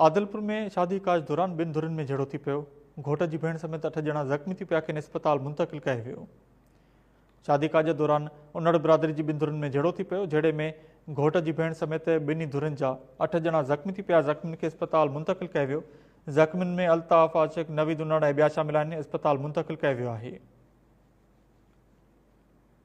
عادلپور ۾ شادي ڪاج دوران ٻن ڌرين ۾ جهيڙو ٿي پيو، گهوٽ جي ڀيڻ سميت اٺ ڄڻا زخمي ٿي پيا کين اسپتال منتقل ڪيو ويو. شادي ڪاج دوران انڙ برادري جي ٻن ڌرين ۾ جهيڙو ٿي پيو، جهيڙي ۾ گهوٽ جي ڀيڻ سميت ٻنهي ڌرين جا اٺ ڄڻا زخمي ٿي پيا زخمين کي اسپتال منتقل ڪيو ويو، زخمين ۾ الطاف عاشق، نويد انڙ ۽ ٻيا شامل آهن اسپتال منتقل ڪيو ويو آهي.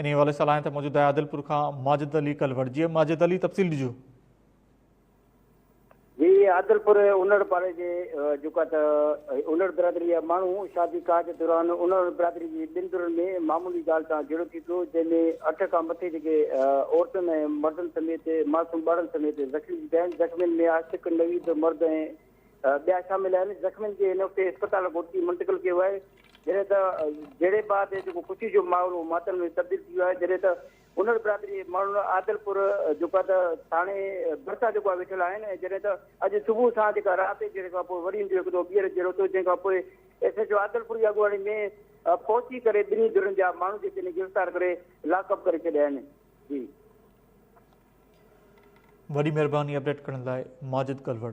انهي حوالي سان لائن تي موجود آهي عادلپور کان ماجد علي ڪلوڙ جي ماجد علي تفصيل ڏجو جي عادلپور انڙ پاڙي جي جيڪا ته انڙ برادري جا ماڻهو شادي ڪاج دوران انڙ برادري جي ٻن ڌرن ۾ معمولي ڳالهه تان جهيڙو ٿي پيو جنهن ۾ اٺ کان مٿي جيڪي عورتن ۽ مردن سميت معصوم ٻارن سميت زخمي ٿي پيا آهن زخمين ۾ عاشق نويد مرد ۽ ٻيا شامل آهن، زخمين کي نوڪتي اسپتال گهوٽڪي منتقل ڪيو آهي، جڏهن ته جهيڙي بعد جيڪو خوشي جو ماحول هو ماتم ۾ تبديل ٿي ويو آهي، جڏهن ته هنر برادري جي ماڻهن عادلپور جيڪو آهي ته ٿاڻي ڀرسان جيڪو آهي ويٺل آهن ۽ جڏهن ته اڄ صبح سان جيڪا رات جي جهيڙي کانپوء وري هندو هڪ دفعو ٻيهر جهيڙو ٿيو، جنهن کانپوء ايس ايڇ او عادلپور جي اڳواڻي ۾ پهچي ڪري ٻنهي ڌرين جا ماڻهو جيڪي آهن گرفتار ڪري لاڪ اپ ڪري ڇڏيا آهن. جي. وڏي مھرباني اپڊيٽ ڪرڻ لاء ماجد ڪلھوڙ.